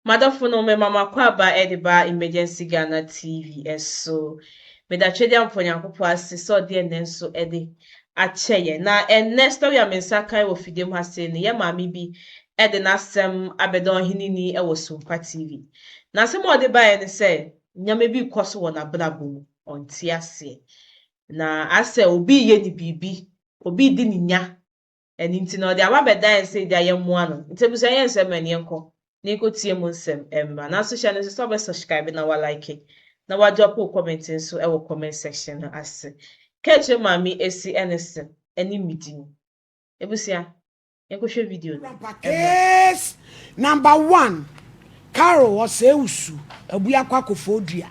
M'adɔfo nom mema mo akwaaba ɛde ba Emergency Ghana TV so. Meda Twedeampɔ Nyankopɔn ase sɛ ɔde ɛnnɛ nso ɛde akyɛ yɛn. Na ɛnnɛ story a me nsa kan wɔ fidie mu ha sei no, yɛn maame bi ɛde n'asɛm abɛda Ɔheneni ɛwɔ Sumpa TV. N'asɛm a ɔde baeɛ ne sɛ, nneɛma bi rekɔ so wɔ n'abrabɔ mu, ɔnte aseɛ. Na asɛ obi reyɛ no biribi, obi redi ne nya, Ɛno nti na ɔde aba bɛda yɛn sɛ agya yɛmmoa no. Nti abusua yɛ nsɛm ɛne yɛnkɔ na yɛnkɔ tie mu nsɛm mmra. Nanso hyɛ no nso sɛ wobɛ subscribe na wa like na wa drop wo comment nso wɔ comment section no ase. Ka akyerɛ maame Esi ɛne se ɛne me di no. Abusua yɛnkɔ hwɛ video no mmra. Case number one, Carol Osei-Usu abue akɔ akɔfɔ dua.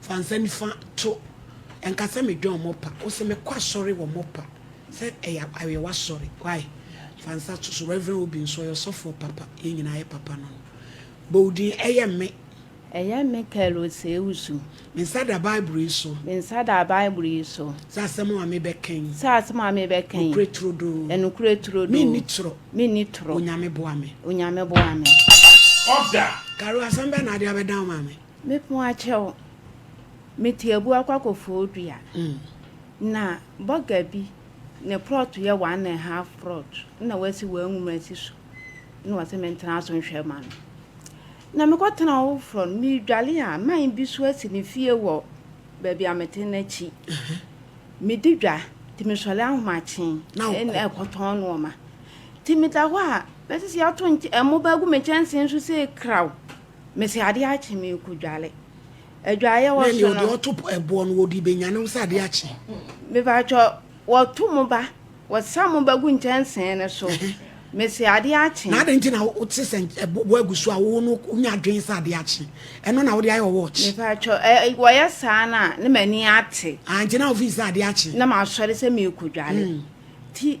Fa nsa nifa to. Ɛnka sɛ medwɛn wɔn pa. Wo se mekɔ asɔre wɔ wɔn pa. Sɛ ɛyɛ a ɛyɛ w'asɔre. Why? Fa nsa to so. Rev. Obi nso ɔyɛ ɔsɔfoɔ papa. Yɛn nyinaa yɛ papa no no. Bɔ wo din. Ɛyɛ me. Ɛyɛ me Kel Osei-Usu. Me nsa da Bible yi so. Me nsa da Bible yi so. Sɛ asɛm a mebɛka yi. Sɛ asɛm a mebɛka yi. Nokorɛ turodoo. Ɛnokorɛ turodoo. Menni torɔ. Menni torɔ. Onyame boa me. Onyame boa me. Papa ɔda. Carol asɛm bɛn na wode abɛdan wo maame? Mepon akyɛw, me teabu akɔ akɔfɔw dua, na bɔga bi ne prɔt yɛ one and half prɔt na wasi wɔn nwoma asi so na wɔsɛ mentena so nhwɛ ma no. Na mekɔtena hɔ foforɔ no, medwale a man bi so asi ne fie wɔ baabi a mete no akyi. Medi dwa, nti mesɔre ahomakye na ɛkɔtɔn nnoɔma. Nti meda hɔ a, na sisi ato nkyɛ, mmoba agu me kyɛnsee nso sei kraw. Mese adeɛ akye merekɔ dwale. Adwaeɛ wɔ so no. Nani ɔde ɔto ɛboɔ no wɔde bɛnyane wo sɛ adeɛ akye. Mepaatwɔ wɔto mo ba wɔsa mo ba gu nkyɛnsee no so. Mese adeɛ akye. Na adɛn nti na wote sɛ ɛboɔ agu so a wo no wonya adwene sɛ adeɛ akye. Ɛno na wode ayɛ wɔ watch. Mepaatwɔ wɔyɛ saa no a na m'ani ate. Ah nti na wofii sɛ adeɛ akye. Na masɔre sɛ merekɔ dwale. Ti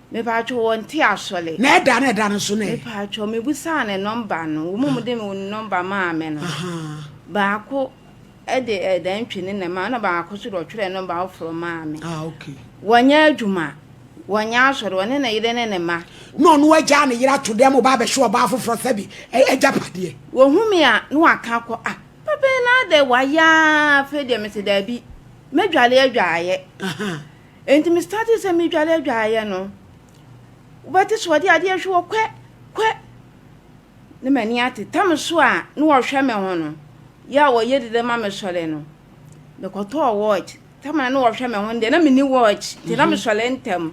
Mepaatwɔ wɔ nte asɔle. Na ɛda na ɛda no so no ɛ. Mepaatwɔ me busaa ne nɔmba no wɔn mu de wɔn nɔmba maa me no baako ɛde ɛdan twi ne na maa ɛna baako so de ɔtwerɛ nɔmba afoforɔ maa me. Ah okay. Wɔnyɛ adwuma wɔnyɛ asɔre wɔne ne yere ne ne ma. Na ɔno agya ne yere ato dɛm ɔba abɛhwɛ ɔbaa foforɔ sɛbi ɛgya padeɛ. Wɔhu me a na waka akɔ ah papa yi na adɛ wayɛ aa afei deɛ mese daabi mɛdwale adwaayɛ Enti me startee sɛ medware adwareɛ no, wobɛte sɛ wɔde adeɛ hwe wɔ kwɛ kwɛ ne m'ani ate tam so a na wɔhwɛ me ho no yɛ a wɔyɛ dede ma me sɔre no mekɔtɔɔ watch tam a na wɔhwɛ me ho no deɛ na menni watch nti na mesɔre ntɛm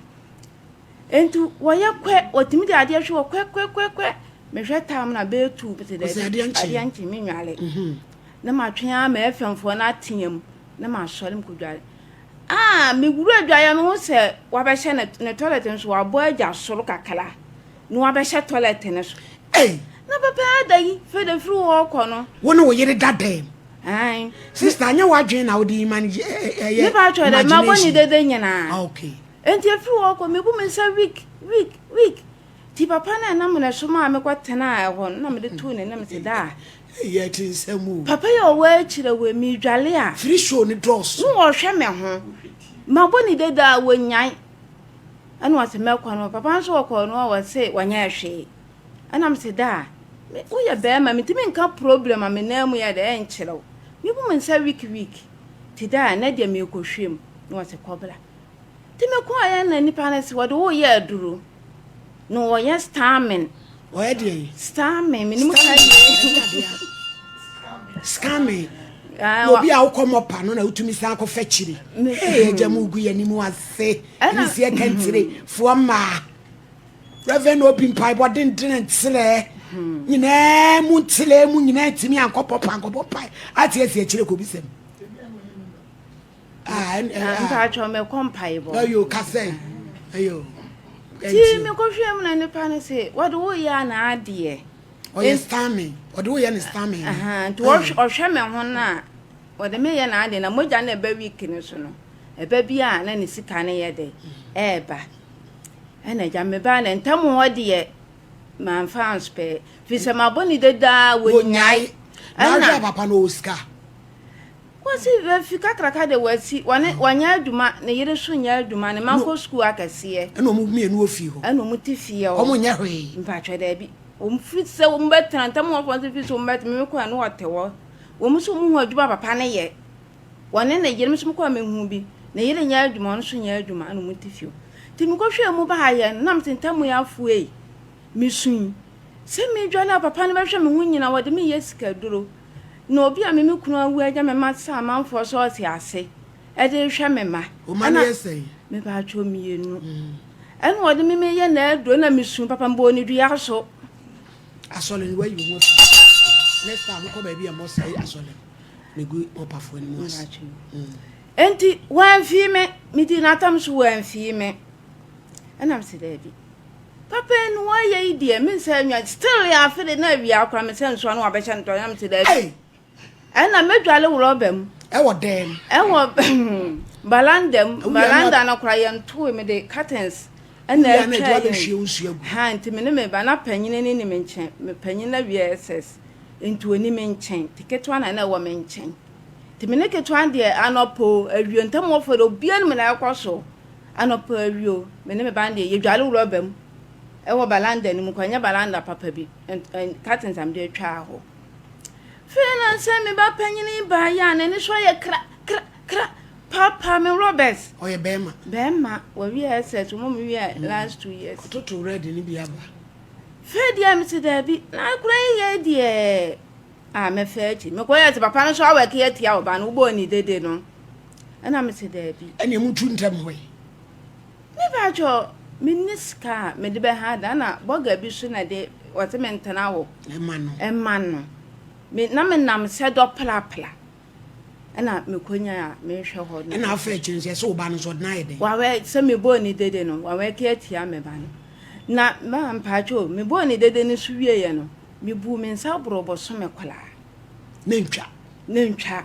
enti wɔyɛ kwɛ wɔtumi de adeɛ hwe wɔ kwɛ kwɛ kwɛ kwɛ mehwɛ tam na bɛɛtu te dɛ adeɛ nkye me nware na matwe a mɛfɛmfoɔ no ateam na masɔre mekɔdware Ah me wura adwaeɛ no ho sɛ wabɛhyɛ ne, ne toilet no so wabɔ agya soro kakra na wabɛhyɛ toilet no so hey. na papa ada yi fɛ de firi hɔ kɔ no wo ne wo yere da dɛm sista anyɛ w'adwene na wode ima no ɛyɛ ne pa twɛ dɛ mabɔ ne dede nyinaa ah, okay. nti ɛfiri hɔ kɔ mebu me nsa week week week ti papa no ɛnam ne so maa mekɔ tenaa ɛhɔ no na mede too ne nam sɛ daa Eyi ɛte nsɛm o. Papa yi a ɔwɔ akyire wei me dwale a. Free show no dɔɔso. No ɔhwɛ me ho. Ma bɔ ne dede a wɔ nyan. Ɛna ɔse mɛ kɔ no papa nso ɔkɔ no ɔwɔ se wɔ nyɛ hwee. Ɛna me se daa. Me wo yɛ bɛɛma me ntumi nka problem a me nan mu yɛ dɛ ɛnkyerɛ wo. Me bu me nsa week week. Te daa nɛ deɛ me kɔ hwɛ mu. No ɔse kɔ bra. Nti me kɔɔ yɛ na nipa no se wɔde wo yɛ aduru na wɔyɛ stamming. Wɔyɛ deɛn? Stamming me ni mu ka yie. Scamming. Ah, obi a wokɔ mɔ pa no na wotumi san akɔ fɛ kyiri. Ee agya mu gu yɛ ni mu ase. Ɛna si ɛka ntire foɔ mmaa. Reverend obi mpaebɔ dendene nkyerɛ nyinaa mu nkyerɛ mu nyinaa ntumi ankɔbɔ pa ankɔbɔ pa ate asi akyire kɔ bi sɛm. Ah, and, and, ah. Mpacho me kom pai bo. No, you can say. Ayo. Ti me ko hwe mu na ne pa ne se, what do we ya na adie? O ye stamming. What do we ya na stamming? Aha, to o hwe me ho na. What do me ya na adie na moja na ba week ne so no. Eba bi a na ne sika ne ye de. Eba. Ena ja me ba na ntam ho de man fans pe. Fi se ma boni de da wo nyai. Na papa no sika. Kwasi Wafi kakraka de Wasi, wɔne, wanya adwuma, ne yere nso nya adwuma, ne mma kɔ sukuu akɛseɛ. Ɛna wɔn mmienu wɔ fie hɔ. Ɛna wɔn te fie hɔ. Wɔn nyɛ hwee. Mpakyɛw daabi. Wɔn firi sɛ wɔn bɛ tena ntam wɔn fɔn sɛ firi sɛ wɔn bɛ tena wɔn kɔ a na wɔte hɔ. Wɔn nso wɔn hu adwuma papa ne yɛ. Wɔne ne yere nso wɔn kɔ a me hu bi. Ne yere nya adwuma ɔno nso nya adwuma ɛna wɔn te fie hɔ. Ti me kɔ hwɛ mu ba ayɛ no nam te ntam yɛ afuei. Me sui. Sɛ me dwane a papa no bɛ hwɛ me ho nyina wɔde me yɛ sika duro. Na obi a me me kunu awu agya me ma sɛ amanfoɔ sɛ ɔte ase ɛde rehwɛ me ma. Oma no yɛ sɛn? Me ba atwɔ mmienu. Ɛna ɔde me meyɛ n'aduro na me su papa mbɔ ne dua so. Asɔre no wayi wɔn afi next time mokɔ baabi a mɔsɛe asɔre no megu ɔpafoɔ no mu ase. Enti wɔamfii me, medii n'atam so wɔamfii me. Ɛna mese daabi. Papa enu wayɛ yi deɛ me nsa nwa still yɛ afe de na awia akora me sɛ nsoa no wabɛhyɛ no tɔ na me sɛ daabi ɛna mɛdwale wɔ rɔba mu ɛwɔ dɛm ɛwɔ balanda mu balanda no kora yɛn towe me de curtains ɛna atwa yɛn ha nti me ne me ba na panyin ne ne me nkyɛn me panyin na wia ss nti oni me nkyɛn te ketewa na na ɛwɔ me nkyɛn te me ne ketewa deɛ anɔpo awio ntam wɔfɔ de obia no me na ɛkɔ so Anɔpa awie o, me ne me ba no deɛ yɛdware wrɔba mu wɔ balanda no mu kɔ, ɛnyɛ balanda papa bi, curtains a mede atwa hɔ. Fei na sɛ me ba panyin baa yɛ a n'ani so ayɛ kra kra kra paapaa me wrɔbas. Ɔyɛ bɛrima. Bɛrima, wɔwie SS, wɔn mu wie mm. last two years. Ɔtoto red no bi aba. Fei deɛ me se daabi, na akora yi yɛ deɛ a mɛfɛ akyi. Mekɔ yɛ sɛ papa no so awɛke atia ɔba no, wobɔ ne dede no. Ɛna me se daabi. Ɛneɛ mo tu ntɛm hɔ yi. Me pa kyɛ me nni sika a me de bɛ ha da na bɔga bi so na de wɔse me ntena hɔ. Ɛma no. Ɛma no. Me na me nam sɛ dɔ plapla. Ɛna me kɔ nya a me hwɛ hɔ no. Ɛna afɛ kyerɛ sɛ sɛ ɔba no sɛ ɔde na ayɛ dɛ. Wawɛ sɛ me bɔɔ ni dede no wawɛ ke atia me ba no. Na ma mpa kyɛ o me bɔɔ ni dede no so wie yɛ no me buu me nsa boro bɔ so me kɔlaa. Na ntwa. Na ntwa.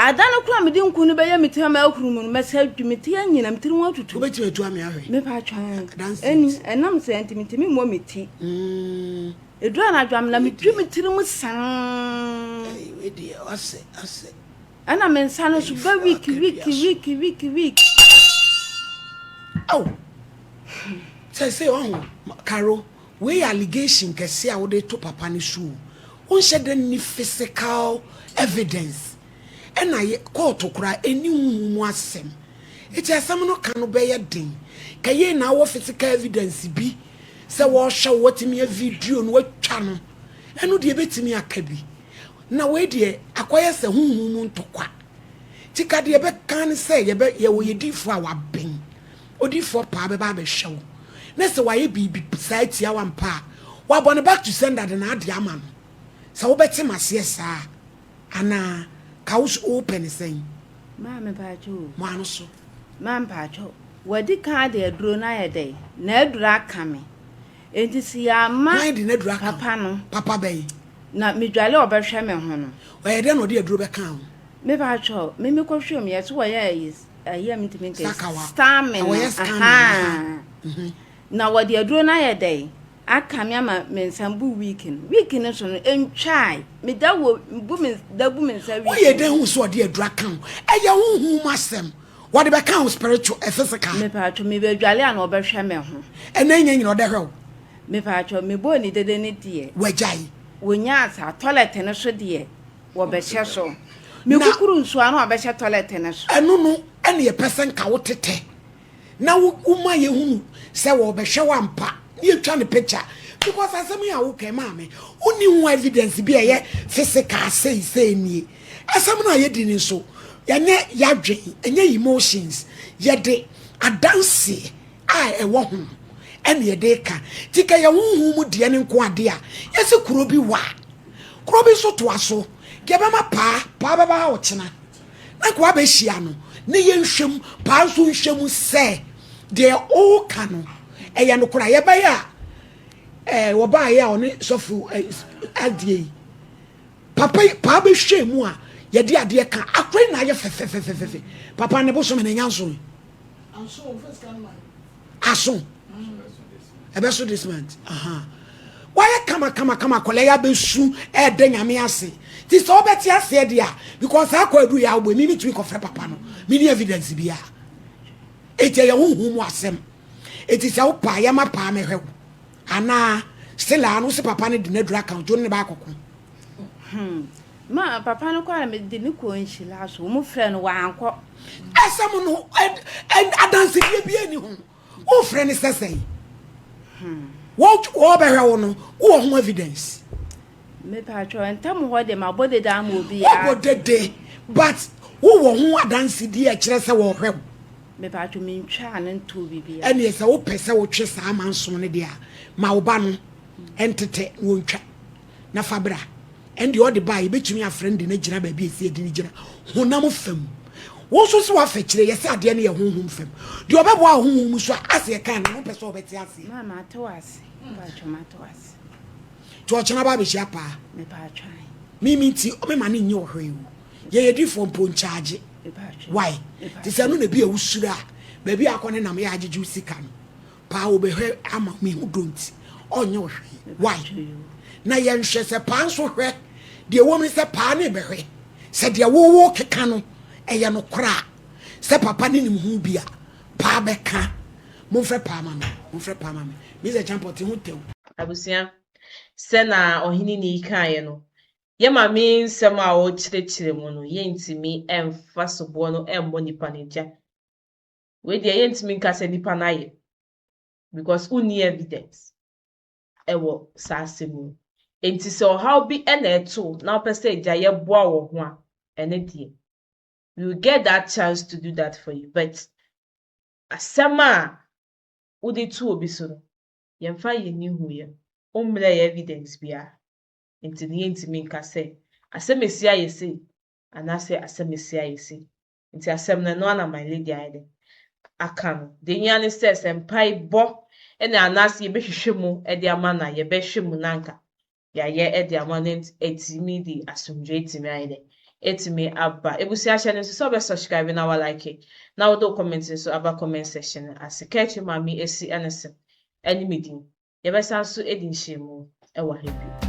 Ada no kora mede nku no bɛyɛ me ti ama ahuru mu no mɛsɛ adwi me ti anyina me tiri ho atutu. Wobɛtumi atu ame ahwɛ. Mepa atwa ɛni ɛnam sɛ nti metumi mmɔ me ti. Mm. Edu anadwo am na medwi me tiri mu san. Wedi ɔsɛ ɔsɛ. Ɛna me nsa no so bɛ week week week week week. Aw. Sɛ sɛ ɔho karo Wei yɛ allegation kɛse a wode to papa no so o. Wonhyɛ da nni physical evidence ɛna kɔɔto koraa ɛnni honhom mu asɛm. Nti asɛm no ka no bɛyɛ den. Ka yei na wowɔ physical evidence bi sɛ wɔrehwɛ wo watumi a video no watwa no ɛno deɛ ɛbɛtumi aka bi. Na wei deɛ akɔyɛ sɛ honhom mu ntɔkwa. Nti ka deɛ ɛbɛka ne sɛ yɛbɛ yɛwɔ yɛdiifoɔ a waben. Odiyifoɔ paa bɛba abɛhwɛ wo na sɛ wayɛ biribi saa atia wo ampa a, wabɔ no back to sender de n'adeɛ ama no. Sɛ wobɛte m'aseɛ saa anaa? Ka wo so wopɛ no sɛn? Maa me paatwo o. Mo ano so. Maa me paatwo. Wadi kan ade aduro no ayɛ dɛn? N'aduro aka me. Enti se yɛamma. Hwan de n'aduro aka wo? Papa no. Papa bɛn? Na medwale a ɔbɛhwɛ me ho no. Ɔyɛ dɛn na ɔde aduro bɛkaa wo? Me paatwo, me mekɔhwɛ mu, yɛse wɔyɛ ayis. ɛyɛ metumi nka stamina na wɔde aduro no ayɛ dɛn aka me ama me nsa bu week no week no so no ntwae meda wɔ bu me da bu me nsa week woyɛ dɛn ho so ɔde aduro aka ho ɛyɛ honhom mu asɛm wɔde bɛka ho spiritual eh, physical mepaatwo mebɛdwale a na ɔbɛhwɛ me ho ɛna nyɛ nyina ɔdɛ hwɛ wo mepaatwo mebɔɔ ne dede ne deɛ wagyae wɔnya asa toilet no so deɛ Wɔbɛhyɛ so. Ne kukuru nso a na wɔbɛhyɛ tɔlɛt no so. Ɛno no na yɛpɛ sɛ nka wo tetɛ na woma yɛhunu sɛ wɔrebɛhwɛ wo ampa na yɛtwa no picture because asɛm yi a woka yi maame wonni ho evidence bi a ɛyɛ physical sei sei nie asɛm no a yɛdi no nso ɛnyɛ yɛadwen ɛnyɛ emotions yɛde adanseɛ a ɛwɔ ho no ɛne ɛde ka ti ka yɛ honhom mu deɛ ne nko adeɛ a yɛsi kuro bi wa kuro bi nso toa so deɛ bɛma paa paa bɛba ha ɔkyena na nkoa bɛhyia no ne yɛ nhwɛm paa nso nhwɛm sɛ deɛ ɔka no ɛyɛ no kora yɛbɛyɛ a ɛɛ wɔbaayɛ a ɔne sɔfo ɛdeɛ yi papa yi paa bɛhwɛ mu a yɛde adeɛ ka akora yi na ayɛ fɛfɛfɛfɛfɛ papa ne bosom ne nyansom aso ɛbɛso this month wayɛ kama kama kama akwadaa yi abɛsu ɛɛdɛ nyame ase ti sɛ ɔbɛte aseɛ deɛ because saa akɔ aduru yɛ awobɔ mi mi tumi kɔfrɛ papa no mi ni evidence bi a eti ɛyɛ ho hu mu asɛm eti sɛ wopa yɛ ma paa mɛhwɛ wo anaa still a no si papa no de n'aduru aka odwo ne baako ko Hmm. Ma papa no kɔ a mede no kɔɔ nhyira so. Wɔn frɛ no wankɔ. Asɛm no adansedie bi ani ho. Wofrɛ no sɛ sɛn? Hmm. Wɔbɛhwɛ wo no, wowɔ ho evidence? Mepatwɛ ntam hɔ de ma bɔ dede ama obi ya. Ɔbɔ dede but wowɔ ho adansedie a ɛkyerɛ sɛ wɔhwɛ wo. Mepatwɛ mentwaa no ntoo biribi a. Ɛneɛ sɛ wopɛ sɛ wotwe saa amanso no deɛ a ma wo ba no ntete na wɔntwa. na fa bra. Ɛnde ɔde ba a, yɛbɛtumi afrɛ no de no agyina baabi a ɛsɛ yɛde no gyina, honam fam. Wo nso sɛ woafa kyire, yɛ sɛ adeɛ no yɛ honhom fam. Deɛ ɔbɛboa wo honhom mu so a, ase ɛkaa no, wopɛ sɛ ɔbɛte aseɛ. Maa mate wo ase, mpaatwɔ mate wo ase. Nti ɔkyena ba abɛhyia paa. Mepaatwɔ ae. Me me nti, me ma no nyɛ ɔhwɛ ewu. Yɛ yɛ difoɔ mpo nkyagye. Mepaatwɔ. Why? Te sɛ ɛno na bi a wusuro a, baabi a akɔ ne nam yɛ agyegye wo sika no. Paa wobɛhwɛ ama me ho dɔ nti ɔnyɛ wo hwee why na yɛnhwɛ sɛ paa nso hwɛ deɛ wɔm ne sɛ paa ne bɛhwɛ sɛ deɛ wowo keka no ɛyɛ no korɔ a sɛ papa ne nim ho bi a paa bɛka momfrɛ paa ma me momfrɛ paa ma me Mr. Champɔte ho tɛw. Abusua, sɛ na ɔhene nii kaeɛ no, yɛ mame nsɛm a ɔrekyerɛkyerɛ mu no yɛntumi mfa soboɔ no mmɔ nipa no gya. Wei deɛ yɛntumi nka sɛ nipa no ayɛ because wonni evidence ɛwɔ saa asɛm mu. Enti sɛ ɔhaw bi ɛna ɛto wo na wopɛ sɛ agya yɛboa wɔ ho a, ɛne deɛ we will get that chance to do that for you but asɛm a wode to obi so no yɛmfa yɛn ani nhu yɛn ho mmrɛ yɛn evidence biara enti no yɛntumi nka sɛ asɛm asi ayɛ sei anaasɛ asɛm asi ayɛ sei. Ntsi asɛm no, ɛno ara na My Lady ayɛ dɛn aka no. Dza ohia nye sɛ, sɛ mpaebɔ na anaase yɛbɛhwehwɛ mu de ama no a, yɛbɛhwɛ mu na anka yɛayɛ de ama no ntsi atumi de asomdwee atumi ayɛ dɛn, atumi aba. Ebusua hyɛ no nso sɛ wobɛ subscribe na wa like na wode wo comment nso aba comment section no ase. Kakyire Maame Esi ne se ne me din. Yɛbɛsan so adi nhyiamu wɔ ha bio.